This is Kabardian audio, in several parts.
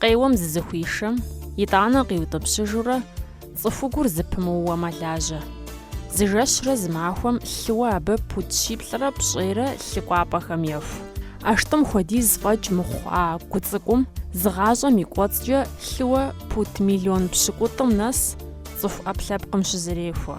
Къеуэм зызыхуишэм, итӏанэ къиутӏыпщыжурэ, цӏыхугур зыпымыууэ мэлажьэ. Зы жэщрэ зы махуэм лъыуэ абы пуд щиплӏрэ пщӏейрэ лъы кӏуапӏэхэм еху. ӏэштӏым хуэдиз фӏэкӏ мыхъу а гу цӏыкӏум зы гъащӏэм и кӏуэцӏкӏэ лъыуэ пуд миллион пщыкӏутӏым нэс цӏыху ӏэпкълъэпкъым щызэрехуэ.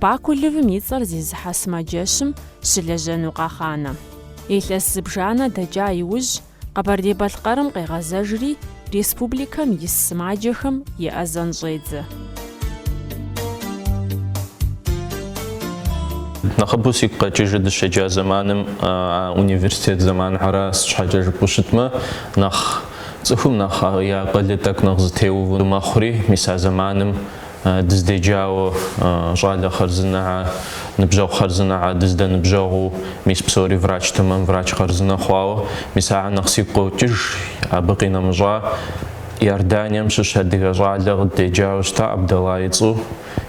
Бакулевым и цӏэр зезыхьэ сымаджэщым щылэжьэну къагъанэ. Илъэс зыбжанэ дэкӏа иужь, Къэбэрдей-Балъкъэрым къегъэзэжри, республикэм ис сымаджэхэм еӏэзэн щӏедзэ. Нэхъыбэу сигу къэкӏыжыр дыщеджа зэманым, а университет зэманхьэра, сыт щхьэкӏэ жыпӏэу щытмэ, нэхъ цӏыхум нэхъ я акъылыр тӏэкӏу нэхъ зэтеуву мэхъури, мис а зэманым Дыздеджауэ щӏалэ хъарзынэхьэ, ныбжьэгъу хъарзынэхьэ, дыздэныбжьэгъуу, мис псори врач тэмэм, врач хъарзынэ хъуауэ, мис ахьэр нэхъ сигу къокӏыж, абы къинэмыщӏа, Иорданием щыщ адыгэ щӏалэ къыддеджауэ щыта, Абдэлла и цӏу,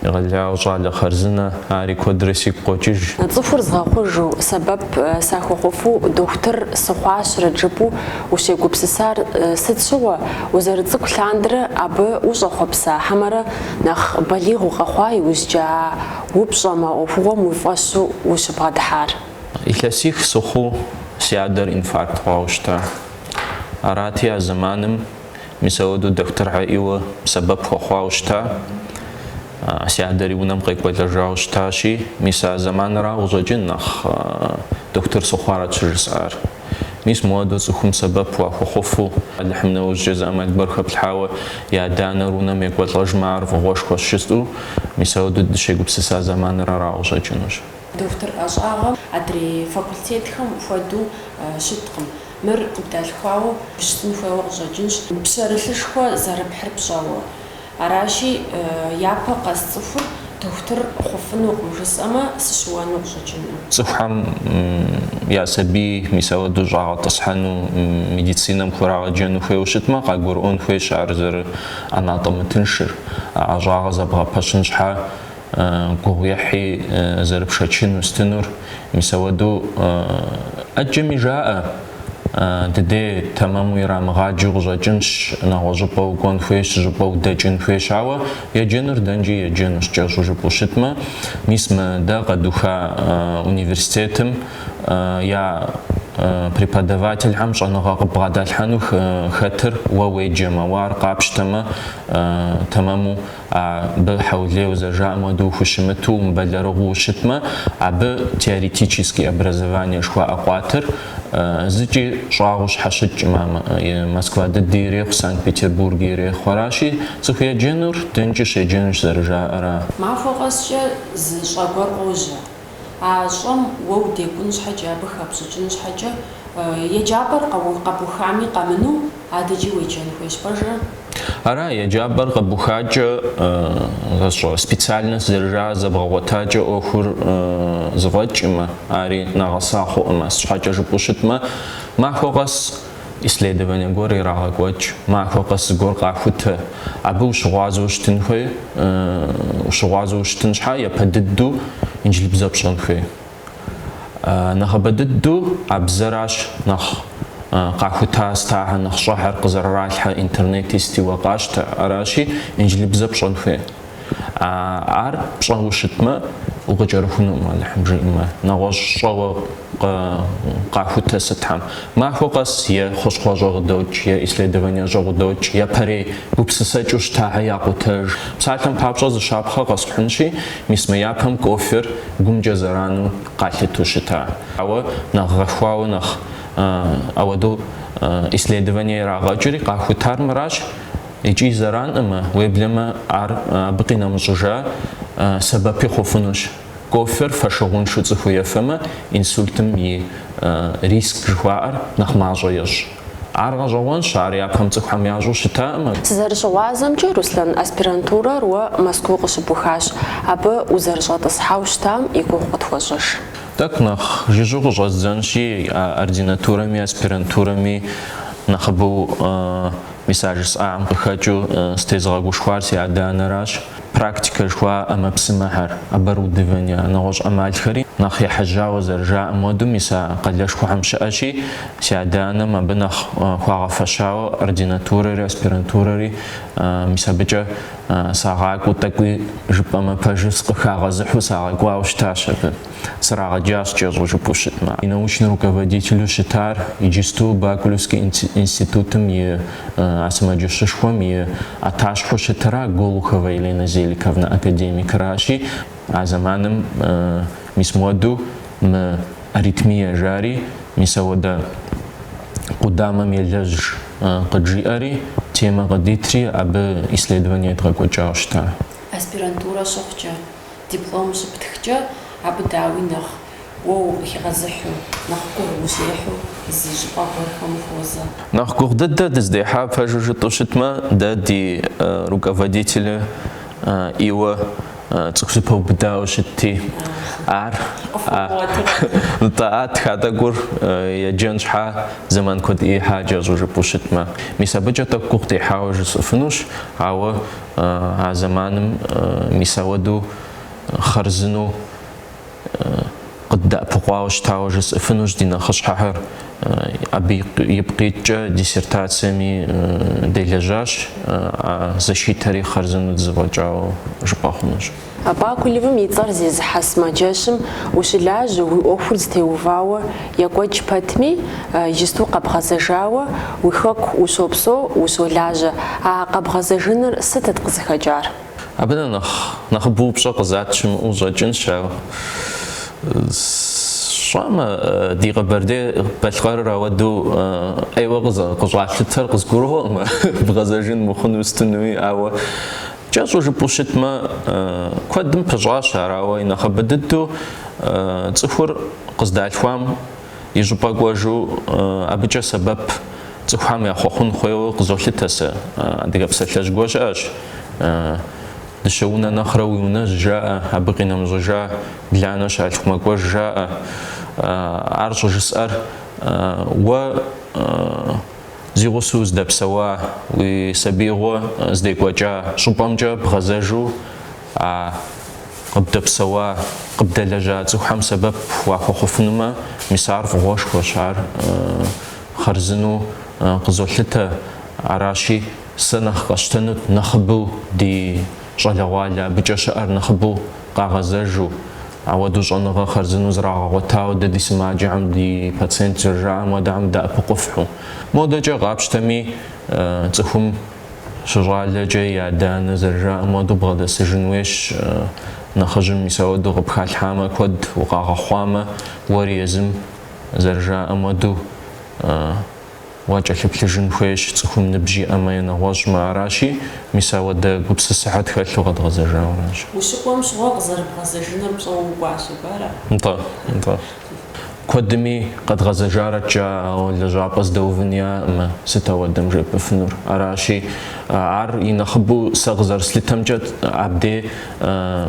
егъэлеяуэ щӏалэ хъарзынэ, ари куэдрэ сигу къокӏыж. Цӏыхур згъэхъужу, сэбэп сахуэхъуфу дохутыр сыхъуащэрэт жыпӏэу Ущегупсысар сыт щыгъуэ, узэрыцӏыкӏу лъандэрэ абы ущӏэхъуэпса хьэмэрэ нэхъ балигъ укъэхъуа иужькӏэ а упщӏэм, а ӏуэхугъуэм уи фӏэщу ущыбгъэдыхьар? Илъэсих сыхъуу си адэр инфаркт хъуауэ щыта. Арати, а зэманым мис ауэдэу дохутырхьэр ӏейуэ сэбэп хуэхъуауэ щыта. Си адэри унэм къекӏуэлӏэжауэ щытащи, мис а зэманрауэ щӏэкӏын нэхъ дохутыр сыхъуарэт щыжысӏар. Мис мыуэдэу цӏыхум сэбэп уахуэхъуфу, Алыхьым нэужькӏэ зы ӏэмал гуэр хэплъхьауэ, я адэ-анэр унэм екӏуэлӏэжмэ, ар фӏыгъуэшхуэщ жытӏэу, мис ауэдэу дыщегупсыса зэманыр арауэ щӏэкӏынущ. Дохутыр ӏэщӏагъэм адрей факультетхэм хуэдэу щыткъым. Мыр къыбдалъхуауэ щытын хуейуэ къыщӏэкӏынщ. Пщэрылъышхуэ зэрыпхьыр пщӏэуэ. Аращи, япэ къэс цӏыхур дохутыр хъуфынукъым жысӏэмэ, сыщыуэну къыщӏэкӏынкъым. Цӏыхухьэм я сабий мис ауэдэу щӏагъэтӏысхьэну, медицинэм хурагъэджэну хуейуэ щытмэ, къагурыӏуэн хуейщ ар зэрыӏэнатӏэмытыншыр. А ӏэщӏагъэр зэбгъэпэщын щхьэ, гугъуехьи зэрыпшэчыну щытынур, мис ауэду ӏэджэми жаӏэ, ди дей тэмэму ирамыгъаджэу къыщӏэкӏынщ, нэгъуэщӏыпӏэ укӏуэн хуейщ, щӏыпӏэ удэкӏын хуейщ, ауэ еджэнур дэнкӏи еджэнущ, кӏэщӏу жыпӏэу щытмэ, мис мы дэ къэдуха университетым я преподавательхьэм щӏэныгъэ къыббгъэдалъхьэну хэтыр уэ уеджэмэ, уэ ар къапщтэмэ, тэмэму а абы хьэулейуэ зэрыжаӏэм уэду ухущымыту умыбэлэрыгъыу ущытмэ, абы теоретический образование жыхуаӏэ къуатыр зыкӏи щӏагъуу щхьэщыкӏкъым. А Москва дыди ирехъу, Санкт-Петербурги ирехъу. Аращи, цӏыху еджэнур дэнкӏи щеджэнущ зэрыжаӏэра? Махуэ къэскӏэ зы щӏэ гуэр къожьэ. А щӏэм уэ удекӏун щхьэкӏэ, абы хэпщӏыкӏын щхьэкӏэ, еджапӏэр къэбухами къэмыну, адэкӏи уеджэн хуейщ, пэжыр? Ара, еджапӏэр къэбухакӏэ, ӏэщӏагъэ, специальность зэрыжаӏэр зэбгъэгъуэтакӏэ ӏуэхур зыфӏэкӏмэ, ари нэгъэса хъуӏымэ, щхьэкӏэ жыпӏэу щытмэ, махуэ къэс исследование гуэр ирагъэкӏуэкӏ, махуэ къэс зыгуэр къахутэ. Абы ущыгъуазэу щытын хуей, ущыгъуазэу ущытын щхьа япэ дыдэу инджылыбзэ пщӏэн хуей. Нэхъыбэ дыдэу а бзэращ нэхъ къахута стахьэ нэхъыщӏэхьэр къызэрыралъхьэ интернети сти уэ къащтэ, аращи, инджылыбзэ пщӏэн хуей. А ар пщӏэу щытмэ, укъыкӏэрыхунукъым Алыхьым жиӏэмэ, нэгъуэщӏ щӏэуэ къахутэ сытхьэм. Махуэ къэс е хущхъуэщӏэ къыдокӏ, е исследованиещӏэ къыдокӏ, япэрей гупсысэкӏэу щытахьэ якъутэж. Псалъэм папщӏэ зы щапхъэ къэсхьынщи, мис мы япэм кофер гумкӏэ зэрану къалъыту щыта. Ауэ нэхъ гъэхуауэ, нэхъ ауэдэу исследование ирагъэкӏри къахутар мыращ, Икӏи зэранӏымэ, уеблэмэ ар абы къинэмыщӏыжа сэбэпи хъуфынущ. Кофер фэшыгъуншэу цӏыхур ефэмэ, инсультым и риск жыхуаӏэр нэхъ мащӏэ ещӏ. Ар гъэщӏэгъуэнщ, ар япэм цӏыхухэм ящӏу щытаӏымэ. Сызэрыщыгъуазэмкӏэ, Руслан, аспирантурэр уэ Мэзкуу къыщыбухащ, абы узэрыщӏэтӏысхьауэ щытам и гугъу къытхуэщӏыж. Тӏэкӏу нэхъ жыжьэу къыщӏэздзэнщи, ординатурэми аспирантурэми нэхъыбэу. Мис а жысӏам къыхэкӏыу сытезыгъэгушхуар си адэ-анэращ. Практикэ жыхуаӏэ ӏэмэпсымэхэр, оборудование, нэгъуэщӏ ӏэмалхэри нэхъ ехьэжьауэ зэрыжаӏэм уэду мис а къалэшхуэхэм щыӏэщи, си адэ-анэм абы нэхъ хуагъэфэщауэ ординатурэри аспирантурэри мис абыкӏэ сагъакӏуэу тӏэкӏуи жыпӏэмэ пэжу, къыхагъэзыхьу сагъэкӏуауэ щытащ абы. срагъэджащ кӏэщӏу жыпӏэу щытмэ. И научнэ руководителу щытар иджысту Бакулевский институтым и сымаджэщышхуэм и ӏэтащхьэу щытыра Голухова Елена Зеликовна академикращи, а зэманым мис муэду мы аритмие жари, мис ауэдэ къудамэм елэжь къыджиӏэри, темэ къыдитри абы исследование едгъэкӏуэкӏауэ щыта. Аспирантурэ щыхъукӏэ. Диплом щыптхкӏэ, абы дауи нэхъ уэ укъыхигъэзыхьу, нэхъ гугъу ущехьу зы щӏыпӏэ гуэрхэм ухуозэ. Нэхъ гугъу дыдэ дыздехьа пэжу жытӏу щытмэ, дэ ди руководителыр иуэ цӏыху зэпэубыдауэ щытти, ар, Нтӏэ, а тха тӏэкӏур еджэн щхьа зэман куэд ихьа кӏэщӏу жыпӏу щытмэ, мис абыкӏэ тӏэкӏу гугъу дехьауэ жысӏэфынущ, ауэ А зэманым мис ауэдэу хъарзынэу къыддэӏэпыкъуауэ щытауэ жысӏэфынущ ди нэхъыщхьэхэр. Абы ипкъ иткӏэ диссертациями делэжьащ, а защитэри хъарзынэу дызэфӏэкӏауэ жыпӏэ хъунущ. Бакулевым и цӏэр зезыхьэ сымаджэщым ущылажьэ, уи ӏуэхур зытеувауэ екӏуэкӏ пэтми, иджысту къэбгъэзэжауэ, уи хэку ущопсэу, ущолажьэ. А къэбгъэзэжыныр сытыт къызыхэкӏар? Абы нэхъ нэхъыбэу упщӏэ къызат щымыӏэу щӏэкӏынщ ар. Сщӏэмэ, ди Къэбэрдей-Балъкъэрыр ауэдэу ӏейуэ къыщӏалъытэр къызгурыӏуэкъым, бгъэзэжын мыхъуну, стынуи, ауэ. Кӏэщӏу жыпӏэу щытмэ, куэдым пыщӏащ ар, ауэ и нэхъыбэ дыдэу цӏыхур къыздалъхуам и щӏыпӏэ кӏуэжу абыкӏэ сэбэп цӏыхухэм яхуэхъун хуейуэ къызолъытэ сэ. Адыгэ псалъэжь гуэр щыӏэщ, Дыщэ унэ нэхърэ уи унэжь жаӏэ, абы къинэмыщӏыжа бланэ щалъху мэкӏуэж жаӏэ. Ар щӏыжысӏэр уэ Зи гъусэу уздэпсэуа уи сабиигъуэ здекӏуэкӏа щӏыпӏэмкӏэ бгъэзэжу а къыбдэпсэуа, къыбдэлэжьа цӏыхухэм сэбэп уахуэхъуфынумэ, мис ар фӏыгъуэшхуэщ, ар хъарзынэу къызолъытэ. Аращи, сэ нэхъ къэсщтэнут нэхъыбэу ди. Щӏалэгъуалэ абыкӏэ щыӏэр нэхъыбэу къагъэзэжу, ауэдэу щӏэныгъэ хъарзынэу зрагъэгъуэтауэ дэ ди сымаджэхэм, ди пациент зэрыжаӏэм хуэдэхьэм дэӏэпыкъуфхьу. Модэкӏэ къапщтэми, цӏыхум щыщӏалэкӏэ и адэ-анэ зэрыжаӏэм хуэдэу бгъэдэсыжын хуейщ, нэхъыжьым мис ауэдэу къыпхалъхьамэ, куэд укъагъэхъуамэ, уэри езым зэрыжаӏэм хуэдэу, Уакӏэлъыплъыжын хуейщ, цӏыхум ныбжь иӏэмэ е нэгъуэщӏмэ, аращи, мис ауэдэ гупсысэхьэ тхэлъу къэдгъэзэжауэращ. Ущыкӏуэм щыгъуэ къызэрыбгъэзэжыныр пщӏэуэ укӏуащ, абы ара? Нтӏэ, нтӏэ. Куэдми къэдгъэзэжарэт жаӏэ, ауэ лэжьапӏэ здэувын яӏэкъымэ, сыт ауэдэм жепӏыфынур? Аращи, ар и нэхъыбэу сэ къызэрыслъытэмкӏэ, абдей,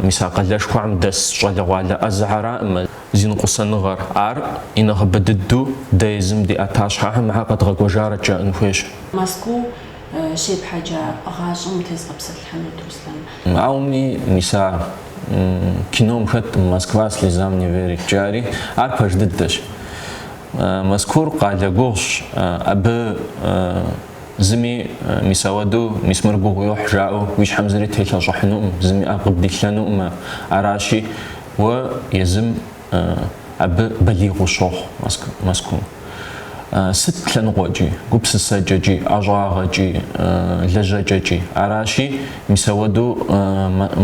мис а къалэшхуэм дэс щӏалэгъуалэ ӏэзэхьэракъымэ. Зи ныкъусаныгъэр, ар и нэхъыбэ дыдэу дэ езым ди ӏэтащхьэхэм ахэр къэдгъэкӏуэжарэт жаӏэн хуейщ. Мэзкуу щепхьэкӏа гъащӏэм утезгъэпсэлъыхьынут, Руслан. Ауми, мис а кином хэт Москва слезам не верит жаӏэри, ар пэж дыдэщ. Мэзкуур къалэ гугъущ, абы зыми мис ауэдэу, мис мыр гугъу йохь жаӏэу уи щхьэм зыри телъэщӏыхьынукъым, зыми ӏэ къыбдилъэнукъымэ. Аращи. Уэ езым абы балигъ ущохъу Мэзкуу. Сыт лъэныкъуэкӏи, гупсысэкӏэкӏи, ӏэщӏагъэкӏи, лэжьэкӏэкӏи. Аращи, мис ауэдэу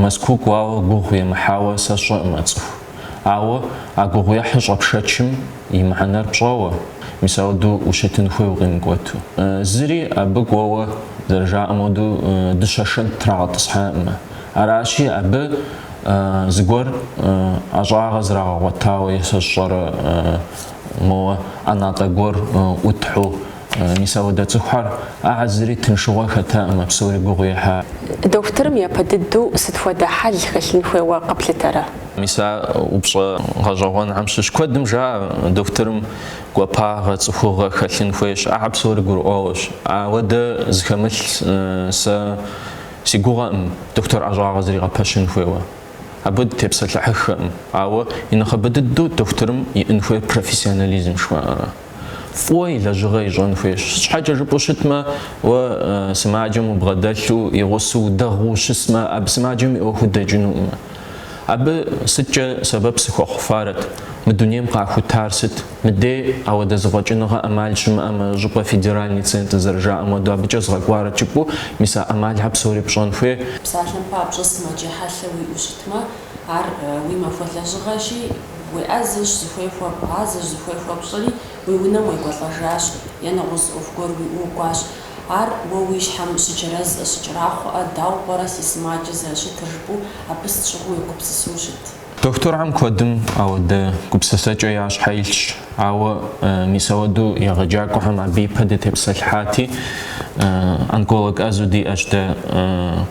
Мэзкуу кӏуауэ гугъу емыхьауэ сэ сщӏэкъымэ цӏыху. Ауэ а гугъуехьыр щӏэпшэчым и мыхьэнэр пщӏэуэ, мис ауэдэу ущытын хуей укъимыкӏуэту. Зыри абы кӏуэуэ, зэрыжаӏэм хуэдэу, дыщэ шэнт трагъэтӏысхьакъымэ. Аращи, абы зыгуэр ӏэщӏагъэ зрагъэгъуэтауэ е сэ сщӏэрэ моуэ ӏэнатӏэ гуэр ӏутхьу, мис ауэдэ цӏыхухэр, ахьэ зыри тыншыгъуэ хэтакъымэ, псори гугъу ехьа. Дохутырым япэ дыдэу сыт хуэдэ хьэл хэлъын хуейуэ къэплъытэрэ? Мис а упщӏэ гъэщӏэгъуэнхэм щыщ куэдым жаӏэ, дохутырым гуапагъэ, цӏыхугъэ хэлъын хуейщ, ахьэ псори гурыӏуэгъуэщ. Ауэдэ зыхэмылъ сэ. Си гугъэкъым дохутыр ӏэщӏагъэ зригъэпэщын хуейуэ. Абы дытепсэлъыхьыххэкъым. Ауэ и нэхъыбэ дыдэу дохутырым иӏэн хуейр профессионализм жыхуаӏэрэ. Фӏыуэ и лэжьыгъэ ищӏэн хуейщ. Щхьэкӏэ жыпӏэу щытмэ, уэ сымаджэм убгъэдэлъу, и гъусэу, удэгъыу ущысмэ, абы сымаджэм и ӏуэху дэкӏынукъымэ. Абы сыткӏэ сэбэп сыхуэхъуфарэт, мы дунейм къахутар сыт, мыдей ауэдэ зэфӏэкӏыныгъэ ӏэмал щымыӏэмэ, щӏыпӏэ федеральный центр зэрыжаӏэм хуэдэу абыкӏэ згъэкӏуарэт жыпӏэу, мис а ӏэмалхьэр псори пщӏэн хуей. Псалъэм папщӏэ сымаджэ хьэлъэ уиӏэу щытмэ, ар уи махуэ лэжьыгъэщи, уеӏэзэщ, зыхуей хуэбгъазэщ, зыхуей хуэпщӏэри, уи унэм уекӏуэлӏэжащ, е нэгъуэщӏ ӏуэху гуэр уиӏэу укӏуащ. Ар уэ уи щхьэм щыджэрэзӏэ, щыкӏэрахъуэӏэ, дауэ пӏэрэ си сымаджэ зэрыщытыр жыпӏэу абы сыт щыгъуи уегупсысу щыт. Дохутырхэм куэдым ауэдэ гупсысэкӏэ я щхьэ илъщ, ауэ мис ауэдэу егъэджакӏуэхэм абы ипэ дытепсэлъыхьати, онколог ӏэзэу диӏэщ дэ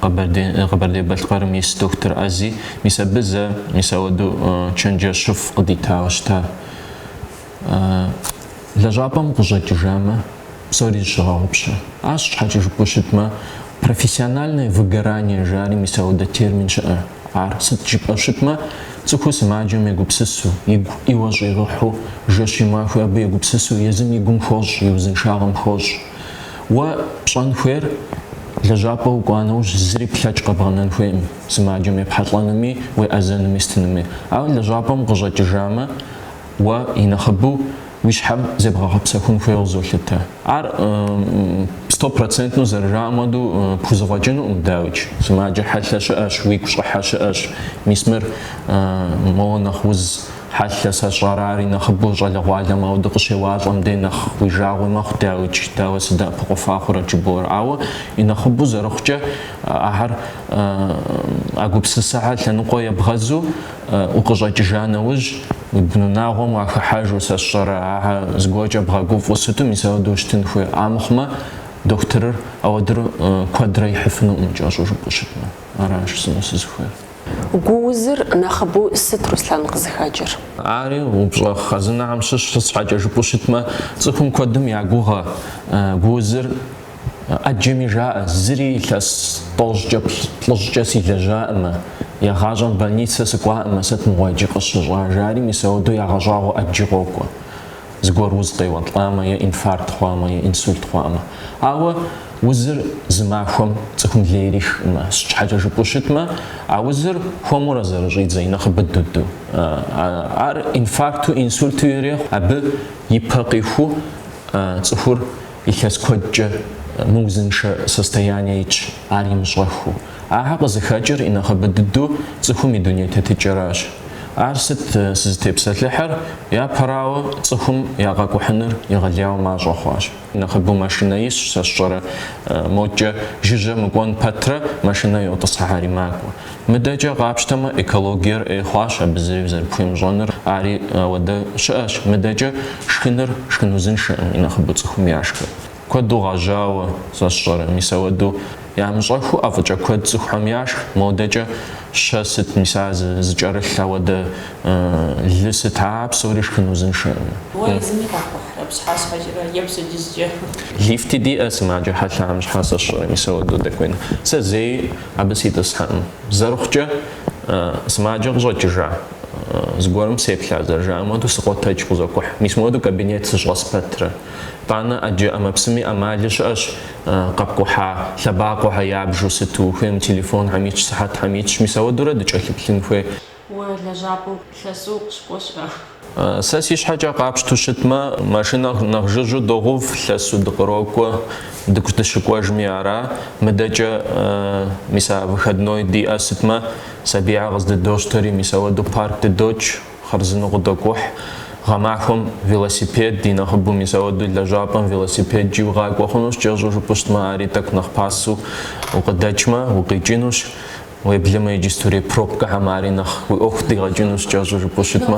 Къэбэрдей-Балъкъэрым ис дохутыр ӏэзи, мис абы зэ мис ауэдэу чэнджэщыфӏ къыдитауэ щыта. лэжьапӏэм укъыщӏэкӏыжамэ, псори зыщыгъэгъупщэ. Ар сщхьэкӏэ жыпӏэу щытмэ, профессиональное выгорание жари мис ауэдэ термин щыӏэ. Ар сыт жыпӏэу щытмэ, цӏыхур сымаджэм егупсысу, игу ӏейуэ щӏигъыхьу, жэщи махуи абы егупсысу езым и гум хощӏ, и узыншагъэм хощӏ. Уэ пщӏэн хуейр, лэжьапӏэ укӏуа нэужь зыри плъэкӏ къэбгъэнэн хуейкъым, сымаджэм епхьэлӏэнуми, уеӏэзэнуми сытынуми. Ауэ лэжьапӏэм укъыщӏэкӏыжамэ, Уэ, и нэхъыбэу, уи щхьэм зебгъэгъэпсэхун хуейуэ къызолъытэ. Ар сто процентнэу зэрыжаӏэм хуэдэу пхузэфӏэкӏынукъым, дауикӏ. Сымаджэ хьэлъэ щыӏэщ, уигу щӏыхьэ щыӏэщ. Мис мыр моуэ нэхъ уз хьэлъэ, сэ сщӏэрэ ар и нэхъыбэу щӏалэгъуалэм ауэдэ къыщеуалӏэм дей нэхъ уи жагъуи мэхъу, дауикӏ, дауэ сыдэӏэпыкъуфа хъурэт жыбоӏэр. Ауэ, и нэхъыбэу зэрыхъукӏэ, ахэр а гупсысэхэр лъэныкъуэ ебгъэзу, Укъыщӏэкӏыжа нэужь, уи бынунагъуэм уахыхьэжу, сэ сщӏэрэ, ахьэ зыгуэркӏэ бгъэгуфӏу сыту мис ауэдэу ущытын хуей. А мыхъумэ, дохутырыр ауэдэр куэдрэ ихьыфынукъым, кӏэщӏу жыпӏэу щытмэ. Аращ жысӏэну сызыхуейр. Гу узыр нэхъыбэу сыт, Руслъан, къызыхэкӏыр? Ари, упщӏэ хъэзынэхэм щыщ, сыт щхьэкӏэ жыпӏэу щытмэ, цӏыхум куэдым я гугъэ гу узыр. ӏэджэми жаӏэ, зыри илъэс тӏощӏкӏэ, плӏыщӏкӏэ силэжьаӏымэ, егъащӏэм больницэ сыкӏуаӏымэ, сыт мыгъуэ джы къысщыщӏа, жари мис ауэдэу ягъэщӏагъуэ ӏэджи къокӏуэ, зыгуэр уз къеуэлӏамэ е инфаркт хъуамэ е инсульт хъуамэ. Ауэ узыр зы махуэм цӏыхум лей ирихкъымэ, сыт щхьэкӏэ жыпӏэу щытмэ, а узыр хуэмурэ зэрыщӏидзэ и нэхъыбэ дыдэу. Ар инфаркту, инсульту ирехъу, абы и пэ къиху цӏыхур Илъэс куэдкӏэ мыузыншэ состояние итщ, ар имыщӏэхыу. Ахэр къызыхэкӏыр и нэхъыбэ дыдэу цӏыхум и дуней тетыкӏэращ. Ар сыт сызытепсэлъыхьыр, япэрауэ, цӏыхум я къэкӏухьыныр егъэлеяуэ мащӏэ хъуащ. Нэхъыбэу машинэ исщ, сэ сщӏэрэ, мокӏэ жыжьэ мыкӏуэн пэтрэ машинэ йотӏысхьэри макӏуэ. Мыдэкӏэ къапщтэмэ, экологиер ӏей хъуащ абы зыри зэрыпхуемыщӏэныр. Ари ауэдэ щыӏэщ. Мыдэкӏэ шхыныр шхын узыншэкъым, и нэхъыбэу цӏыхум яшхыр. Куэду гъэжьауэ, сэ сщӏэрэ, мис ауэдэу ямыщӏэхуу ӏэфӏыкӏэ куэд цӏыхухэм яшх. Модэкӏэ щэ сыт, мис ар зыкӏэрылъ ауэдэ лы сыт, ар псори шхын узыншэкъым. Уэ езыми къэпкӏухьрэ, пщхьэщхьэкӏэрэ е пщэдджыжькӏэ? Лифти диӏэ сымаджэ хьэлъэм щхьэ, сэ сщӏэрэ, мис ауэдэу дэкӏуейну. Сэ зэи. Абы ситӏысхьэкъым. Зэрыхъукӏэ, сымаджэ къыщӏэкӏыжа зыгуэрым сеплъа зэрыжаӏэм хуэдэу сыкъотэдж къызокӏухь. Мис мыуэду кабинет сыщӏэс пэтрэ. Тӏанэ ӏэджэ ӏэмэпсыми ӏэмали щыӏэщ къэпкӏухьа лъэбакъуэхэр ябжу сыту, хуейм телефонхэм итщ, сыхьэтхэм итщ. Мис ауэдурэ дыкӏэлъыплъын хуей. Уэ лэжьапӏэм лъэсу укъыщыкӏуэ щыӏэ? Сэ си щхьэкӏэ къапщту щытмэ, машинэ нэхъ жыжьу догъув, лъэсу дыкърокӏуэ, дыкӏу дыщыкӏуэжми ара. Мыдэкӏэ, мис а выходной диӏэ сытмэ, сабийхэр къыздыдощтэри, мис ауэду парк дыдокӏ, хъарзынэу къыдокӏухь. Гъэмахуэм велосипед, и нэхъыбэу мис ауэду лэжьапӏэм велосипедкӏи укъакӏуэ хъунущ, кӏэщӏу жыпӏэу щытмэ, ари тӏэкӏу нэхъ пасэу укъыдэкӏмэ, укъикӏынущ. Уеблэмэ иджыстурей пробкэхэм ари нэхъ уи ӏуэху дигъэкӏынущ, кӏэщӏу жыпӏэу щытмэ,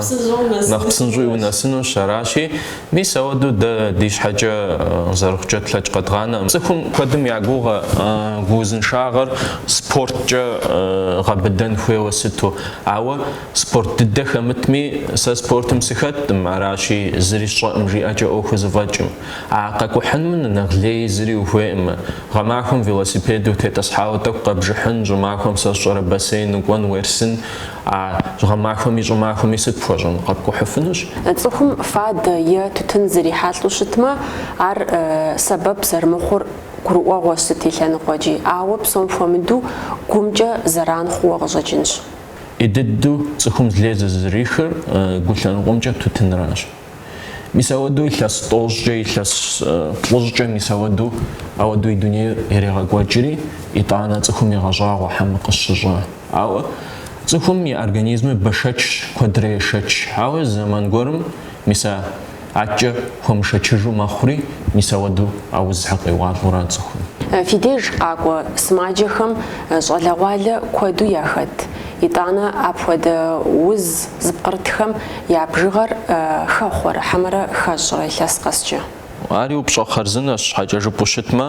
нэхъ псынщӏэуи унэсынущ. Аращи, мис ауэдэу дэ ди щхьэкӏэ зэрыхъукӏэ тлъэкӏ къэдгъанэкъым. Цӏыхум куэдым я гугъэ, гу узыншагъэр спорткӏэ гъэбыдэн хуейуэ сыту. Ауэ спорт дыдэ хэмытми, сэ спортым сыхэткъым, аращи, зыри сщӏэкъым жиӏэкӏэ ӏуэху зэфӏэкӏкъым. А къэкӏухьыным нэхъ лей зыри ухуейкъымэ. Гъэмахуэм велосипед утетӏысхьауэ тӏэкӏу къэбжыхьын, щӏымахуэм сэ сщӏэрэ бассейн укӏуэн уерсын, а гъэмахуэми щӏымахуэми сыт пхуэщӏын, къэпкӏухьыфынущ. Цӏыхум фадэ е тутын зрихьэлӏу щытмэ, ар сэбэп зэрымыхъур гурыӏуэгъуэщ сыт и лъэныкъуэкӏи, ауэ псом хуэмыдэу гумкӏэ зэран хъууэ къыщӏэкӏынщ. Ин дыдэу цӏыхум лей зызрихыр гу лъэныкъуэмкӏэ тутынращ. Мис ауэдэу илъэс тӏощӏкӏэ, илъэс плӏыщӏкӏэ мис ауэдэу, ауэдэу и дунейр ирегъэкӏуэкӏри, итӏанэ цӏыхум егъэщӏагъуэ хьэмэ къысщыщӏа. Ауэ цӏыхум и организмыр бэшэчщ, куэдрэ ешэч. Ауэ зэман гуэрым мис а адэкӏэ хуэмышэчыжу мэхъури, мис ауэдэу а узхэр къеуалӏэу ара цӏыхум. Фи деж къакӏуэ сымаджэхэм щӏалэгъуалэ куэду яхэт. Итӏанэ апхуэдэ уз зыпкърытхэм я бжыгъэр хэхъуэрэ хьэмэрэ хэщӏрэ илъэс къэскӏэ? Ари упщӏэ хъарзынэщ, щхьэкӏэ жыпӏэу щытмэ,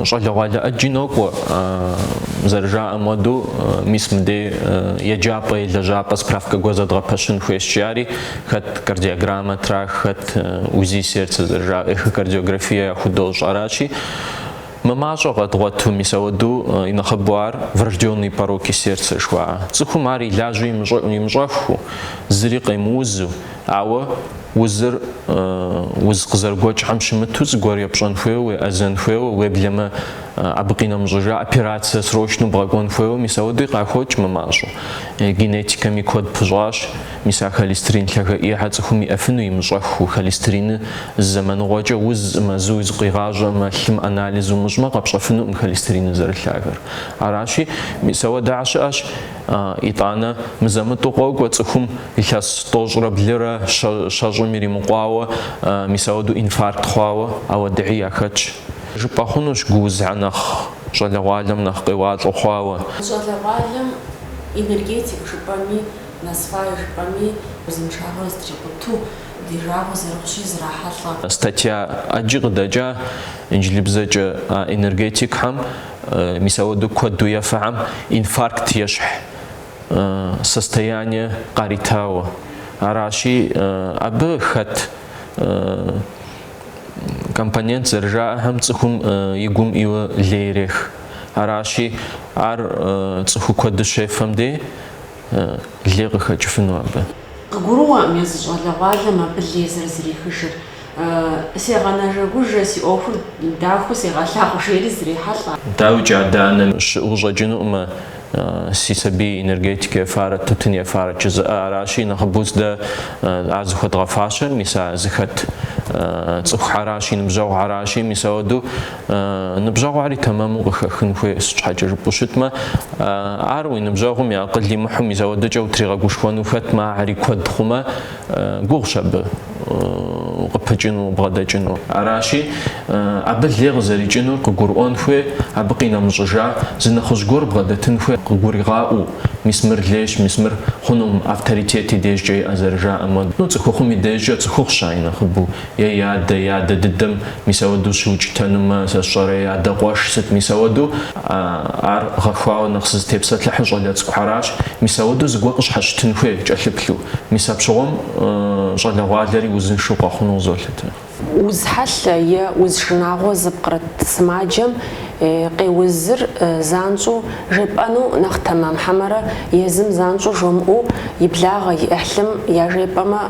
щӏалэгъуалэ ӏэджи нокӏуэ, зэрыжаӏэм хуэдэу, мис мыдей еджапӏэ е лэжьапӏэ справкэ гуэр зэдгъэпэщын хуейщи, ари хэт кардиограммэ трах, хэт УЗИ сердца зэрыжаӏэр, эхокардиографие яхудощӏ, аращи, Мымащӏэу къэдгъуэту, мис ауэдэу и нэхъыбэу ар врожденные пороки сердца жыхуаӏэ. Цӏыхум ар илажьэу имыщӏэххэу, зыри къемыузу, ауэ узыр уз къызэрыгуэкӏхэм щымыту зыгуэр епщӏэн хуейуэ, уеӏэзэн хуейуэ, уеблэмэ абы къинэмыщӏыжауэ операцэ срочнэу бгъэкӏуэн хуейуэ, мис ауэдэуи къахокӏ мымащӏэу. Генетикэми куэд пыщӏащ. Мис а холестерин лъагэ ӏейхэр цӏыхум иӏэфыну имыщӏэххэу, холестериным зэманыгъуэкӏэ уз мэзуи зыкъуигъащӏэкъымэ, лъым анализ умыщӏмэ, къэпщӏэфынукъым холестериныр зэрылъагэр. Аращи, мис ауэдэхэр щыӏэщ, итӏанэ мызэ-мытӏу къокӏуэ цӏыхум илъэс тӏощӏрэ блырэ щэщӏым иримыкъуауэ, мис ауэду инфаркт хъуауэ ауэдэхэри яхэтщ. Жыпӏэ хъунущ гуузхэр нэхъ щӏалэгъуалэм нэхъ къеуалӏэу хъуауэ. Щӏалэгъуалэм энергетик жыпӏэми, Насвай жыпӏэми узыншагъэр зытрикъуту, ди жагъуэ зэрыхъущи зрахьэлӏэ. Статья ӏэджи къыдэкӏа инджылыбзэкӏэ а энергетикхэм, мис ауэдэу куэду ефэхэм инфаркт ещхь состояние къаритауэ. Аращи, абы хэт компонент зэрыжаӏэхэм цӏыхум и гум ӏийуэ лей ирех. Аращи, ар цӏыху куэду щефэм дей. лей къыхэкӏыфыну абы. Къыгурыӏуэкъым езы щӏалэгъуалэм абы лей зэрызрихыжыр. Сегъэнэжэгужэ, си ӏуэхур дахэу сегъэлъагъу, жери зрехьэлӏэ. Дауикӏи адэ-анэ щыӏэу щӏэкӏынукъымэ, си сабий энергетикэ ефарэ тутын ефарэ жызыӏэ. Аращи, нэхъыбэу дэ ар зыхуэдгъэфащэр, мис а зыхэт цӏыхухьэращ, и ныбжьэгъухьэращи, мис ауэду. Ныбжьэгъуари тэмэму къыхэхын хуей, сыт щхьэкӏэ жыпӏэу щытмэ, ар уи ныбжьэгъум и акъыл имыхьу мис ауэдэкӏэ утригъэгушхуэну хэтмэ, ари куэд хъумэ, гугъущ абы укъыпыкӏыну, убгъэдэкӏыну. Аращи, абы лей къызэрикӏынур къыгурыӏуэн хуей, абы къинэмыщӏыжа зы нэхъыжь гуэр бгъэдэтын хуей къыгуригъаӏуэу, мис мыр лейщ, мис мыр хъунукъым, авторитет и дежкӏэ иӏэ зэрыжаӏэм хуэдэу, ну, цӏыхухъум и дежкӏэ цӏыхухъущ а и нэхъыбэу е и адэ, и адэ дыдэм мис ауэдэу щыукӏытэнумэ, сэ сщӏэрэ, и адэ къуэш сыт, мис ауэдэу, ар гъэхуауэ нэхъ сызытепсэлъыхьыр щӏалэ цӏыкӏухэращ, мис ауэдэу зыгуэр къыщхьэщытын хуей, кӏэлъыплъу. Мис апщыгъуэм щӏалэгъуалэри узыншэу къэхъуну къызолъытэ. Уз хьэлъэ е уз шынагъуэ зыпкърыт сымаджэм къеузыр занщӏэу жепӏэну нэхъ тэмэм хьэмэрэ езым занщӏэу жомыӏэу и благъэ, и ӏыхьлым яжепӏэмэ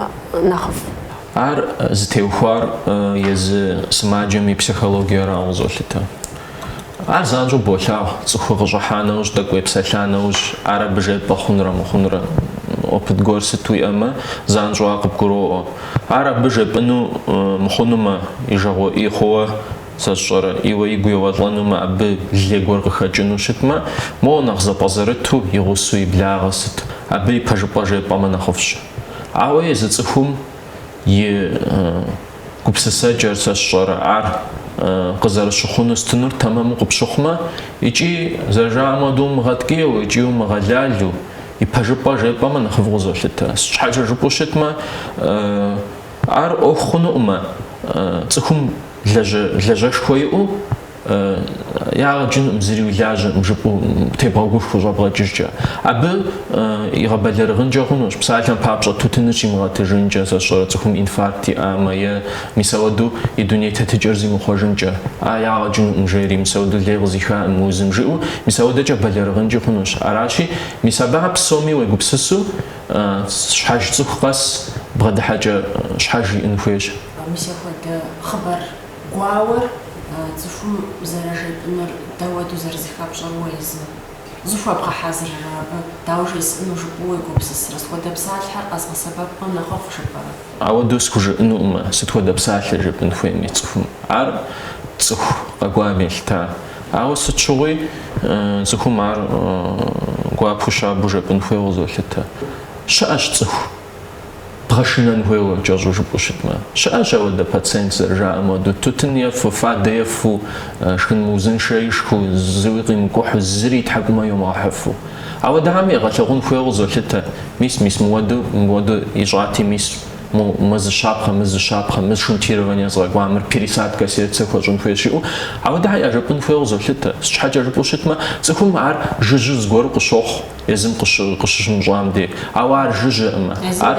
нэхъыфӏ. Ар зытеухуар езы сымаджэм и психологиерауэ къызолъытэ. Ар занщӏэу болъагъу цӏыхур къыщӏыхьа нэужь, тӏэкӏу уепсэлъа нэужь, ар абы жепӏэ хъунрэ мыхъунрэ, опыт гуэр сыт уиӏэмэ, занщӏэу ар къыбгуроӏуэ. Ар абы жепӏыну мыхъунумэ, и жагъуэ ӏей хъууэ, сэ сщӏэрэ, ӏейуэ игу еуэлӏэнумэ, абы лей гуэр къыхэкӏыну щытмэ, моуэ нэхъ зэпӏэзэрыту, и гъусэу, и благъэ сыт, абы и пэжыпӏэ жепӏэмэ нэхъыфӏщ. Ауэ езы цӏыхум и гупсысэкӏэр, сэ сщӏэрэ, ар къызэрыщыхъунур сытынур тэмэму къыпщыхъумэ, икӏи зэрыжаӏэм хуэдэу умыгъэткӏийуэ икӏи умыгъэлалу, и пэжыпӏэ жепӏэмэ нэхъыфӏу къызолъытэ. Сыт щхьэкӏэ жыпӏэу щытмэ, ар ӏуэху хъунукъымэ, цӏыхум лэжьэшхуэ иӏэу ягъэ кӏынукъым, зыри уи лажьэкъым жыпӏэу тебгъэгушхуэу щӏэбгъэкӏыжкӏэ. Абы игъэбэлэрыгъынкӏэ хъунущ, псалъэм папщӏэ тутыныр щимыгъэтыжынкӏэ, сэ сщӏэрэ цӏыхум инфаркт иӏамэ е мис ауэду и дуней тетыкӏэр зимыхъуэжынкӏэ. А, ягъэ кӏынукъым, жери, мис ауэду лей къызихакъым мы узым, жиӏэу мис ауэдэкӏэ бэлэрыгъынкӏи хъунущ. Аращи, мис абыхэ псоми уегупсысу, щхьэж цӏыху къэс бгъэдыхьэкӏэ щхьэж иӏэн хуейщ. Мис апхуэдэ хъыбар гуауэр цӏыхум зэрыжепӏынур дауэду зэрызыхэпщӏэр уэ езы. Зыхуэбгъэхьэзыррэ абы, дауэ жесӏэну жыпӏэу уегупсысрэ, сыт хуэдэ псалъэхэр къэзгъэсэбэпмэ нэхъыфӏ жыпӏэрэ? Ауэдэу схужыӏэнукъымэ, сыт хуэдэ псалъэ жепӏын хуейми цӏыхум. Ар цӏыху къэкӏуам елъыта. Ауэ сыт щыгъуи цӏыхум ар гуапэу щабэу жепӏын хуейуэ къызолъытэ. Щыӏэщ цӏыху бгъэшынэн хуейуэ кӏэщӏу жыпӏэу щытмэ. Щыӏэщ ауэдэ пациент зэрыжаӏэм хуэдэу, тутын ефэу, фадэ ефэу, шхын мыузыншэ ишхыу, зыуи къимыкӏухьу, зыри и тхьэкӏумэ йомыгъэхьыфу. Ауэдэхэми егъэлъэгъун хуейуэ къызолъытэ, мис, мис мыуэду, мыуэду ищӏати, мис, мы зы щапхъэ, мы зы щапхъэ, мы шунтирование згъэкӏуа, мыр пересадка сердца хуэщӏын хуейщ жиӏэу, ауэдэхэр яжепӏын хуейуэ къызолъытэ. Сыт щхьэкӏэ жыпӏэу щытмэ, цӏыхум ар жыжьу зыгуэру къыщохъу. Езым къыщыщымыщӏам дей. Ауэ ар жыжьэкъымэ. Ар,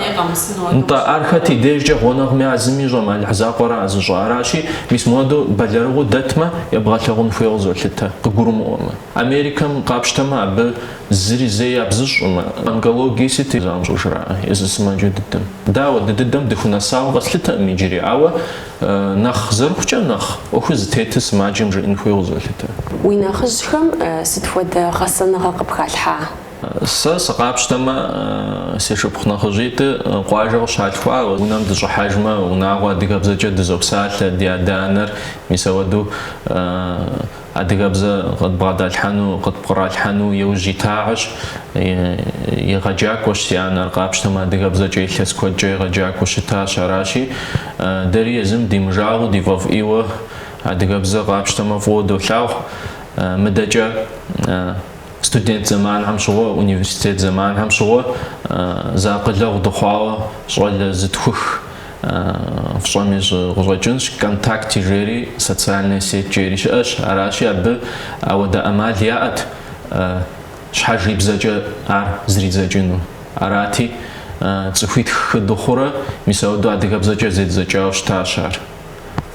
нтӏэ, ар хэт и дежкӏэ гъунэгъуми а зым ищӏэмэ, Алыхь закъуэра а зыщӏэ. Аращи, мис мыуэду бэлэрыгъыу дэтмэ, ебгъэлъэгъун хуейуэ къызолъытэ, къыгурымыӏуэмэ. Америкэм къапщтэмэ, абы зыри зэи ябзыщӏкъымэ. Онкологие сыти занщӏэу жраӏэ езы сымаджэ дыдэм. Дэ ауэдэ дыдэм дыхунэсауэ къэслъытэкъым иджыри, ауэ. Нэхъ зэрыхъукӏэ нэхъ ӏуэхур зытетыр сымаджэм жеӏэн хуей къызолъытэ. Уи нэхъыжьхэм сыт хуэдэ гъэсэныгъэ къыпхалъхьа? Сэ сыкъапщтэмэ, си шыпхъу нэхъыжьитӏи къуажэ къыщалъхуауэ. Унэм дыщӏыхьэжмэ, унагъуэ адыгэбзэкӏэ дызопсалъэ, ди адэ-анэр мис ауэдэу. Адыгэбзэ къыдбгъэдалъхьэну, къытпкъралъхьэну иужь итахэщ, егъэджакӏуэщ си анэр, къапщтэмэ, адыгэбзэкӏэ илъэс куэдкӏэ егъэджакӏуэу щытащ. Аращи, дэри езым димыжагъэу ди фӏэфӏ ӏейуэ адыгэбзэ къапщтэмэ фӏыуэ долъагъу. Мыдэкӏэ студент зэманхэм щыгъуэ, университет зэманхэм щыгъуэ зэакъылэгъу дыхъуауэ щӏалэ зытхух. фщӏэми къыщӏэкӏынщ, Контакте жери, социальная сеть жери щыӏэщ, аращи абы ауэдэ ӏэмал яӏэт щхьэж и бзэкӏэ ар зридзэкӏыну. Арати, цӏыхуитху-хы дыхъурэ, мис ауэдэу адыгэбзэкӏэ зэддзэкӏауэ щытащ ар.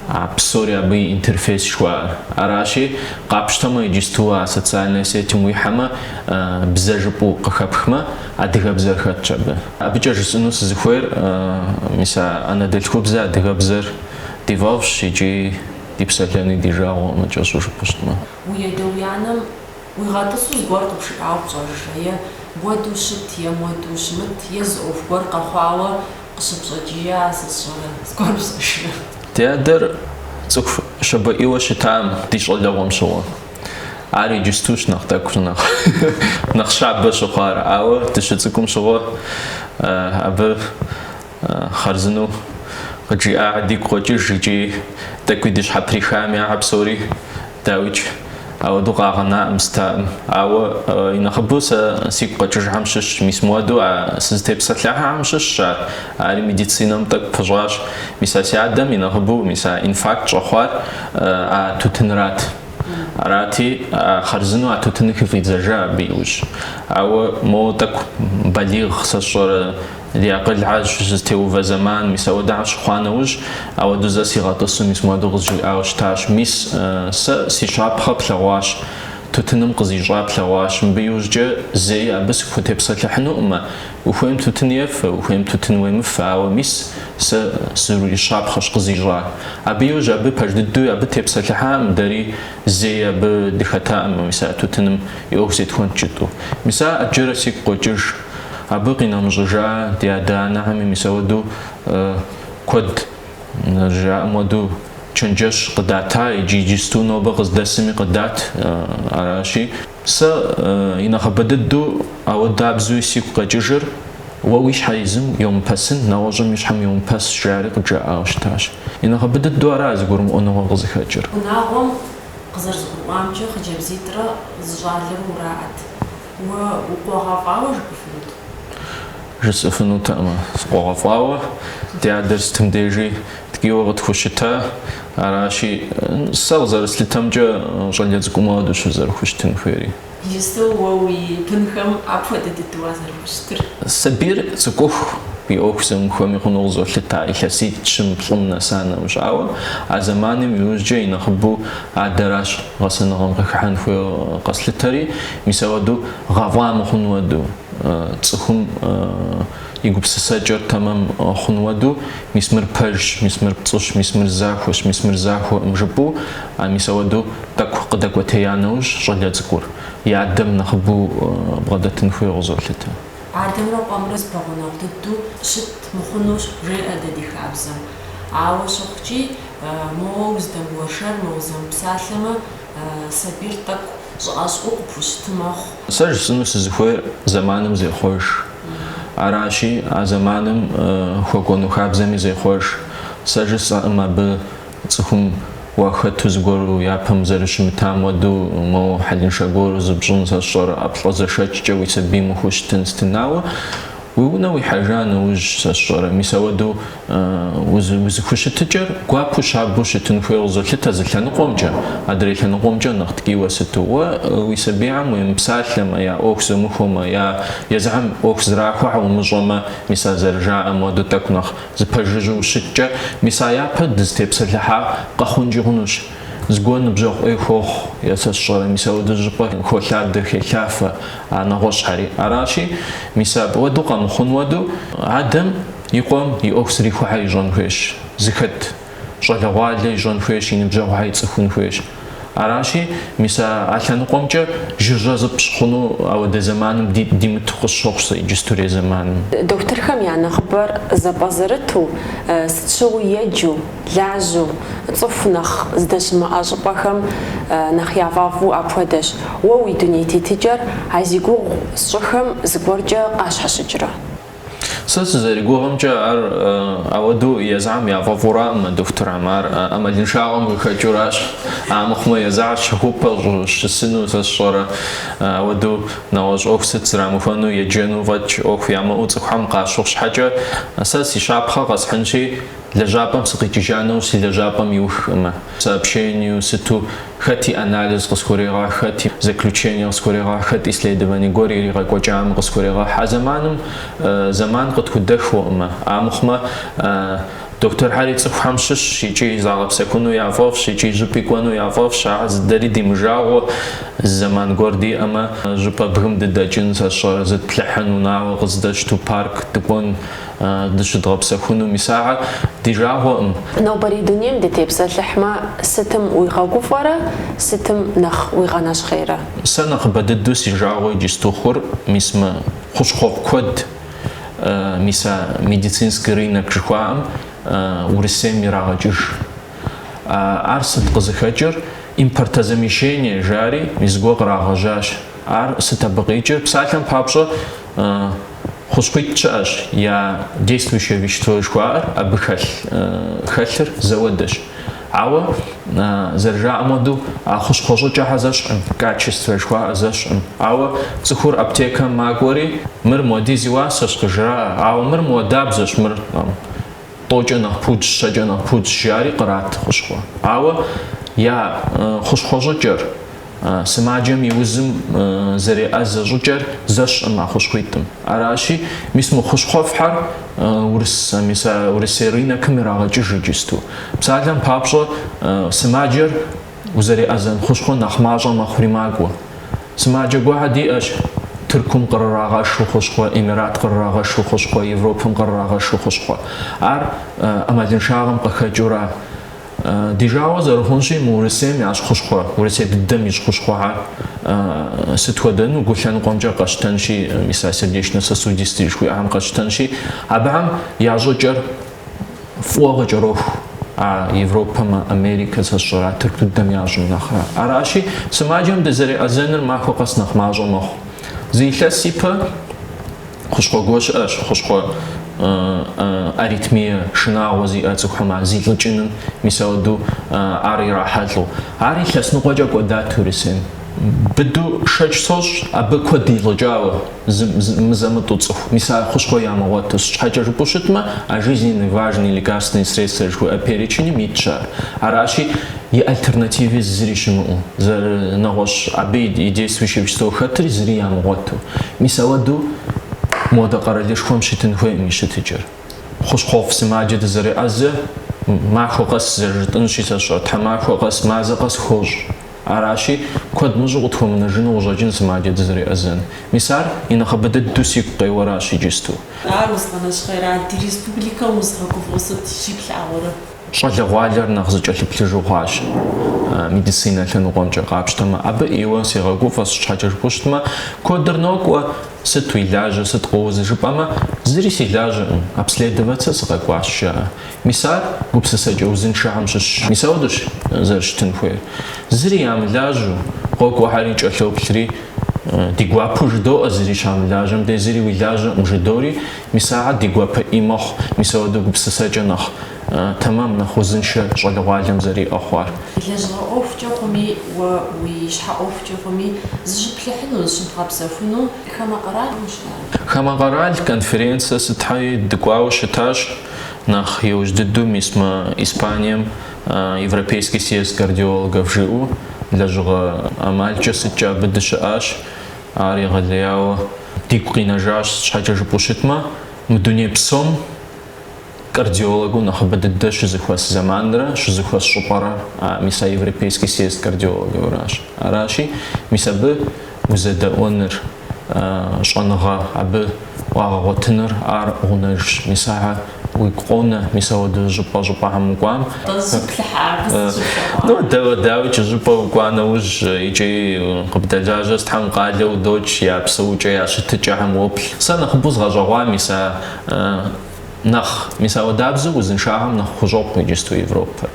А псори абы и интерфейс жыхуаӏэр. Аращи, къапщтэмэ иджысту а социальнэ сетым уихьэмэ, бзэ жыпӏэу къыхэпхмэ, адыгэбзэр хэтщ абы. Абыкӏэ жысӏэну сызыхуейр, мис а анэдэлъхубзэ адыгэбзэр ди фӏэфӏщ икӏи ди псэлъэни ди жагъуэкъымэ, кӏэщӏу жыпӏэу щытмэ. Уи адэ уи анэм уигъэтӏысу зыгуэр къыбжиӏауэ пщӏэжрэ, е муэду щыт, е муэду ущымыт, е зы ӏуэху гуэр къэхъуауэ Къыщыпщӏэкӏия сысщӏэрэ, зыгуэр пщӏэжрэ? Ди адэр цӏыху щабэӏийуэ щытам, ди щӏалэгъуэм щыгъуэ. Ар иджыстущ нэхъ тӏэкӏу нэхъ нэхъ щабэ щыхъуар. Ауэ дыщыцӏыкӏум щыгъуэ абы хъарзынэу къыджиӏахэ дигу къокӏыж икӏи тӏэкӏуи ди щхьэприхам яхь псори Дауикӏ, ауэдэу къагъэнаӏым стаӏым. Ауэ и нэхъыбэу сэ сигу къэкӏыжхэм щыщщ, мис муэду а сызытепсэлъыхьахэм щыщщ ар. Ари медицинэм тӏэкӏу пыщӏащ. Мис а си адэм и нэхъыбэу мис а инфаркт щӏэхъуар а тутынрат. Арати, а хъарзынэу а тутыныр хыфӏидзэжа абы иужь. Ауэ моуэ тӏэкӏу балигъ сэ сщӏэрэ, Ди акъылхьэр щызэтеувэ зэман мис ауэдэу щыхъуа нэужь, ауэдэу зэ сигъэтӏысу мис муэдэу къызжиӏауэ щытащ. Мис, сэ си щапхъэ плъэгъуащ, тутыным къызищӏа плъэгъуащ. Мыбы иужькӏэ зэи абы сыхутепсэлъыхьынукъымэ. Ухуейм тутын ефэ, ухуейм тутын уемыфэ, ауэ мис сэ сыурищапхъэщ къызищӏа. Абы иужь абы пэж дыдэуи абы тепсэлъыхьакъым, дэри зэи абы дыхэтакъым, мис а тутыным и ӏуэху зетхуэнт кӏытӏу. Мис а ӏэджэрэ сигу къокӏыж. Абы къинэмыщӏыжа ди адэ-анэхэми мис ауэду куэд жаӏэм хуэдэу чэнджэщ къыдата иджы иджысту нобэ къыздэсми къыдат. Аращи, сэ инэхъыбэ дыдэу ауэдабзэуи сигу къэкӏыжыр Уэ уи щхьэ езым йомыпэсын, нэгъуэщӏым и щхьэм йомыпэс жари къыджаӏауэ щытащ. Инэхъыбэ дыдэу ара зэгурымыӏуэныгъэ къызыхэкӏыр. Унагъуэм къызэрызгурыӏуамкӏэ хъыджэбзитӏрэ зы щӏалэрэ ураӏэт. Уэ укъуэгъэфӏауэ жыпӏэфынут? Жысӏэфынутэкъымэ, сыкъуэгъэфӏауэ. Ди адэр сытым дежи ткӏийуэ къытхущыта. Аращи, сэ къызэрыслъытэмкӏэ, щӏалэ цӏыкӏумэ ауэдущ узэрыхущытын хуейри. Иджыпсту уэ уи бынхэм апхуэдэ дыдэу уазэрыхущытыр? Сабийр цӏыкӏуху, и ӏуэху зумыхуэми хъуну къызолъыта илъэситӏ-щым, плӏым нэса нэмыщӏауэ. А зэманым иужькӏэ и нэхъыбэу адэращ гъэсэныгъэм къыхыхьэн хуейуэ къэслъытэри. Мис ауэдэу гъэфӏа мыхъун уэду, цӏыхум и гупсысэкӏэр тэмэм хъун уэду, мис мыр пэжщ, мис мыр пцӏыщ, мис мыр захуэщ, мис мыр захуэкъым жыпӏэу, а мис ауэдэу тӏэкӏу къыдэкӏуэтея нэужь щӏалэ цӏыкӏур и адэм нэхъыбэу бгъэдэтын хуейу къызолъытэ. Адэмрэ къуэмрэ зыпэгъунэгъу дыдэу щыт мыхъунущ, жеӏэ дэ ди хабзэм. Ауэ щыхъукӏи, моуэ уздэмыуэршэрмэ, узэмыпсалъэмэ, Сабийр тӏэкӏу щӏыӏэ-щӏыӏэу къыпхущыт мэхъу. Сэ жысӏэну сызыхуейр зэманым зехъуэж. Аращи, а зэманым хуэкӏуэну хабзэми зехъуэж. Сэ жысӏэкъым абы цӏыхум уахэту зыгуэру япэм зэрыщымытам уэду моуэ хьэлыншэ гуэру зыпщӏын сэ сщӏэрэ ӏэплӏэ зэшэкӏкӏэ уи сабийм ухущытын сытын, ауэ уи унэ уихьэжа нэужь сэ сщӏэрэ мис ауэду Узыхущытыкӏэр гуапэу щабэу щытын хуейу къызолъытэ зы лъэныкъуэмкӏэ, адрей лъэныкъуэмкӏэ нэхъ ткӏийуэ сыту. Уэ уи сабийхьэм уемыпсалъэмэ, я ӏуэху зумыхуэмэ, я езыхьэм ӏуэху зрахуэхьэ умыщӏэмэ, мис а зэрыжаӏэм уэду тӏэкӏу нэхъ зыпэжыжьу ущыткӏэ, мис а япэ дызытепсэлъыхьар къэхъункӏи хъунущ. Зыгуэр ныбжьэгъу ӏей хуохъу, е сэ сщӏэрэ, мис ауэдэ щӏыпӏэ холъадэ, хелъафэ а нэгъуэщӏхьэри. Аращи, мис абы уэду къэмыхъун уэду, адэм и къуэм и ӏуэху зрихухьэ ищӏэн хуейщ, зыхэт щӏалэгъуалэ ищӏэн хуейщ, и ныбжьэгъухьэ ицӏыхун хуейщ. Аращи, мис а а лъэныкъуэмкӏэ жыжьэ зыпщӏ хъуну ауэдэ зэманым ди димыту къысщохъу сэ иджыстурей зэманым. Дохутырхэм я нэхъыбэр зэпӏэзэрыту, сыт щыгъуи еджэу, Лажьэу, цӏыху нэхъ здэщымыӏэ щӏыпӏэхэм нэхъ яфӏэфӏу апхуэдэщ, уэ уи дуней тетыкӏэр а зи гугъу сщӏыхэм зыгуэркӏэ къащхьэщыкӏрэ? Сэ сызэригугъымкӏэ, ар ауэдэу езыхьэм яфӏэфӏуракъымэ, дохутырхьэм, ар ӏэмалыншагъэм къыхэкӏыуращ. Амыхъумэ, езыхьэр щэхупӏэ щысыну сэ сщӏэрэ, ауэдэу нэгъуэщӏ ӏуэху сыт зрамыхуэну, еджэну фӏэкӏ ӏуэху ямыӏэу цӏыхухэм къащыхъу щхьэкӏэ, сэ си щапхъэ къэсхьынщи, Лэжьапӏэм сыкъикӏыжа нэужь си лэжьапӏэм иухкъымэ, сообщениеу сыту, хэти анализ къысхурегъэхь, хэти заключение къысхурегъэхь, хэти исследование гуэр иригъэкӏуэкӏам къысхурегъэхь. А зэманым зэман къытхудэхуэкъымэ. Амыхъумэ, дохутырхьэри цӏыхухэм щыщщ икӏи загъэпсэхуну яфӏэфӏщ, икӏи щӏыпӏи кӏуэну яфӏэфӏщ. Ахьэр езы дэри димыжагъуэ, зы зэман гуэр диӏэмэ, щӏыпӏэ бгым дыдэкӏын, сэ сщӏэрэ, зытплъыхьын, унагъуэ къыздэтщту парк дыкӏуэн. дыщыдгъэпсэхуну мис ахэр ди жагъуэкъым. Нобэрей дунейм дытепсэлъыхьмэ, сытым уигъэгуфӏэрэ, сытым нэхъ уигъэнэщхъейрэ? Сэ нэхъыбэ дыдэу си жагъуэ иджысту хъур мис мы хущхъуэфӏ куэд, мис а медицинский рынок жыхуаӏэм Урысейм ирагъэкӏыж. Ар сыт къызыхэкӏыр? Импортозамещение жари, мис зыгуэ кърагъэжьащ. Ар сыт абы къикӏыр? Псалъэм папщӏэ, Хущхъуитӏ щыӏэщ, я действующее вещество жыхуаӏэр абы хэлъ хэлъыр зэуэдэщ. Ауэ, зэрыжаӏэм хуэдэу, а хущхъуэ щӏыкӏэхэр зэщхькъым, качествэ жыхуаӏэр зэщхькъым. Ауэ цӏыхур аптекэм макӏуэри, мыр муэдиз и уасэщ, къыжраӏэ, ауэ мыр муэдабзэщ, мыр тӏэукӏэ нэхъ пудщ, щэкӏэ нэхъ пудщ жари кърат хущхъуэ. Ауэ я хущхъуэщӏыкӏэр, сымаджэм и узым зэреӏэзэ щӏыкӏэр зэщхькъым а хущхъуитӏым. Аращи, мис мы хущхъуэфӏхьэр урысэ, мис а урысей рынокым ирагъэкӏыж иджысту. Псалъэм папщӏэ, сымаджэр Узэреӏэзэн хущхъуэ нэхъ мащӏэ мэхъури макӏуэ. Сымаджэ гуахьэ диӏэщ, Тыркум къырырагъэшу хущхъуэ, Эмират къырырагъэшу хущхъуэ, Европэм къырырагъэшу хущхъуэ. Ар ӏэмалыншагъэм къыхэкӏыура? Ди жагъуэ зэрыхъунщи, мы Урысейм ящӏ хущхъуэ, Урысей дыдэм ищӏ хущхъуэхьэр сыт хуэдэну, гу лъэныкъуэмкӏэ къэщтэнщи, мис а сердечно-сосудистые жыхуиӏэхэм къэсщтэнщи, абыхэм я щӏыкӏэр, фӏыуэ къыкӏэроху а Европэм, Америкэ, сэ сщӏэрэ, Тырку дыдэм ящӏым нэхърэ. Аращи, сымаджэм дызэреӏэзэныр махуэ къэс нэхъ мащӏэ мэхъу. Зы илъэс ипэ хущхъуэ гуэ щыӏэщ, хущхъуэ аритмие шынагъуэ зиӏэ цӏыхухэм ар зилӏыкӏыным, мис ауэдэу ар ирахьэлӏэу. Ар илъэс ныкъуэкӏэ кӏуэдат Урысейм. Быду шэч сощӏ абы куэд илӏыкӏауэ. мызэмытӏу цӏыху, мис а хущхъуэ ямыгъуэту. Сыт щхьэкӏэ жыпӏэу щытмэ, а жизненно важные лекарственные средства жыхуиӏэ переченым итщ ар. Аращи, и альтернативи зыри щымыӏэу, зы нэгъуэщӏ абы и действующее вещество хэтри зыри ямыгъуэту. Мис ауэдэу модэ къэралышхуэм щытын хуейкъым и щытыкӏэр. Хущхъуэфӏ сымаджэ дызэреӏэзэ, махуэ къэс зэрыжытӏынщи, сэ сщӏэ, тхьэмахуэ къэс, мазэ къэс хощӏ. Аращи, куэд мыщӏу къытхуэмынэжыну къыщӏэкӏын сымаджэ дызэреӏэзэн. Мис ар и нэхъыбэ дыдэу сигу къеуэращ иджысту. Ар узыгъэнэщхъейра? Ди республикэм узыгъэгуфӏэу сыт щыплъагъурэ? Щӏалэгъуалэр нэхъ зыкӏэлъыплъыжу хъуащ медицинэ лъэныкъуэмкӏэ къапщтэмэ. Абы ӏейуэ сегъэгуфӏэ, сыт щхьэкӏэ жыпӏэу щытмэ, куэдыр нокӏуэ, сыт уи лажьэ, сыт къоуз жыпӏэмэ, зыри си лажьэкъым, обследоваться сыкъэкӏуащ, жаӏэ. Мис ар гупсысэкӏэ узыншэхэм щыщщ. Мис ауэдэщ зэрыщытын хуейр. Зыри ямылажьэу, къокӏуэхьэри кӏэлъоплъри, Ди гуапэу жыдоӏэ, зыри щамылажьэм дей зыри уи лажьэкъым, жыдори, мис ахэр ди гуапэ ӏей мэхъу, мис ауэдэу гупсысэкӏэ нэхъ тэмэм, нэхъ узыншэ щӏалэгъуалэм зэриӏэ хъуар. Лэжьыгъэ ӏуэхукӏэ хъуми, уэ уи щхьэ ӏуэхукӏи хъуми, зыщыплъыхьыну, зыщыбгъэпсэхуну хамэ къэралым ущыӏа? Хамэ къэрал конференцие сытхьэи дыкӏуауэ щытащ. нэхъ иужь дыдэу мис мы Испанием Европейский съезд кардиологов жыӏэу лэжьыгъэ ӏэмалкӏэ сыткӏэ абы дыщыӏащ, ар егъэлеяуэ дигу къинэжащ, щхьэкӏэ жыпӏэу щытмэ, мы дуней псом кардиологыу нэхъыбэ дыдэ щызэхуэс зэманрэ щызэхуэс щӏыпӏэрэ мис а Европейский съезд кардиологовращ. Аращи, мис абы узэдэӏуэныр. щӏэныгъэ абы уагъэгъуэтыныр ар гъунэжщ, мис ахэр уигу къонэ, мис ауэдэ щӏыпӏэ щӏыпӏэхэм укӏуам. Къызыплъыхьа абы сыт щыхъуа? Ну, дауэ, дауикӏ, щӏыпӏэ укӏуа нэужь икӏи къыбдэлажьэ сытхьэм къалэу удокӏ, я псэукӏэ, я щытыкӏэхэм уоплъ. Сэ нэхъыбэу згъэщӏэгъуа, мис а нэхъ, мис ауэдабзэу узыншагъэм нэхъ хущӏокъу иджысту Европэр.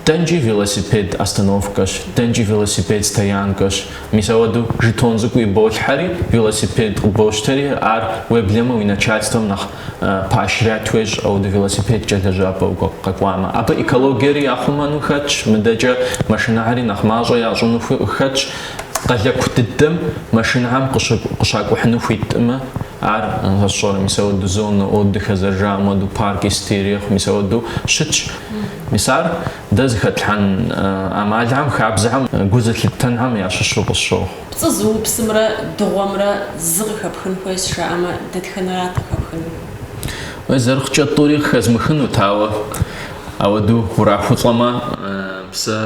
Дэнкӏи велосипед остановкэщ, дэнкӏи велосипед стоянкэщ. Мис ауэдэу жетон цӏыкӏу иболъхьэри, велосипед къыбощтэри, ар уеблэмэ уи начальствэм нэхъ поощрять уещӏ, ауэдэу велосипедкӏэ лэжьапӏэ укъэкӏуамэ. Абы экологиери яхъумэну хэтщ, мыдэкӏэ машинэхьэри нэхъ мащӏэ ящӏыну хэтщ. Къалэку дыдэм машинэхьэм къыщакӏухьыну хуитӏымэ, Ар, сщӏэрэ, мис ауэду зонэ отдыха зэрыжаӏэм хуэдэу, парки сыти ирехъу, мис ауэду щытщ. Мис ар дэ зыхэтлъхьэн ӏэмалхэм, хабзэхэм, гу зылъыттэнхэм ящыщу къысщохъу. Пцӏы зыупсымрэ дыгъуэмрэ зы къыхэпхын хуейщ жаӏэмэ, дэтхэнэрат къыхэпхынур? Уей, зэрыхъукӏэ тӏури къыхэзмыхынут, ауэ ауэду урахулӏэмэ, псэ.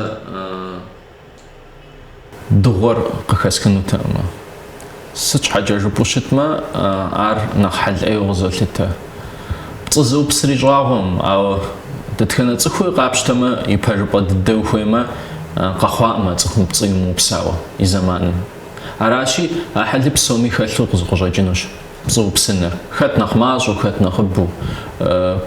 Дыгъуэр къыхэсхынутэкъымэ. Сыт щхьэкӏэ жыпӏэу щытмэ, ар нэхъ хьэл ӏейуэ къызолъытэ. Пцӏы зыупсри щӏагъуэӏым, ауэ дэтхэнэ цӏыхуи къапщтэмэ, ипэжыпӏэ дыдэу хуеймэ, къэхъуакъымэ цӏыхум пцӏы имыупсауэ и зэманым. Аращи, а хьэли псоми хэлъу къызы къыщӏэкӏынущ. Пцӏыупсыныр. Хэт нэхъ мащӏэу, хэт нэхъыбэу.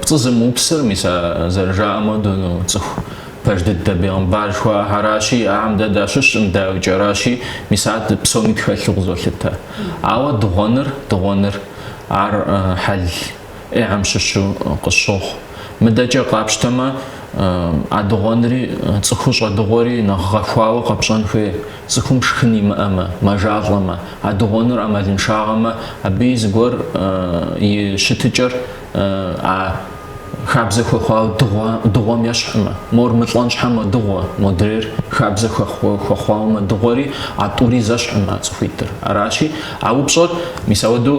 Пцӏы зымыупсыр, мис а зэрыжаӏэм хуэдэу, ну, цӏыху пэж дыдэ бегъымбар жыхуаӏэхьэращи, ахьэм дэ дащыщӏым, дауикӏэращи, мис ар псоми тхэлъу къызолъытэ. Ауэ дыгъуэныр, дыгъуэныр, ар хьэл ӏейгъэм щыщу къысщохъу. Мыдэкӏэ къапщтэмэ, а дыгъуэнри, цӏыхур щӏэдыгъуэри нэхъ гъэхуауэ къэпщӏэн хуей, цӏыхум шхын имыӏэмэ, мэжалӏэмэ. А дыгъуэныр ӏэмалыншагъэмэ, абыи зыгуэр и щытыкӏэр а хабзэ хуэхъуауэ дыгъуэм ещхьмэ. Мор мылӏэн щхьэ мэдыгъуэ, модрейр хабзэ хуэхъуауэ мэдыгъуэри, а тӏури зэщхьмэ а цӏыхуитӏыр. Аращи, а упщӏэр мис ауэдэу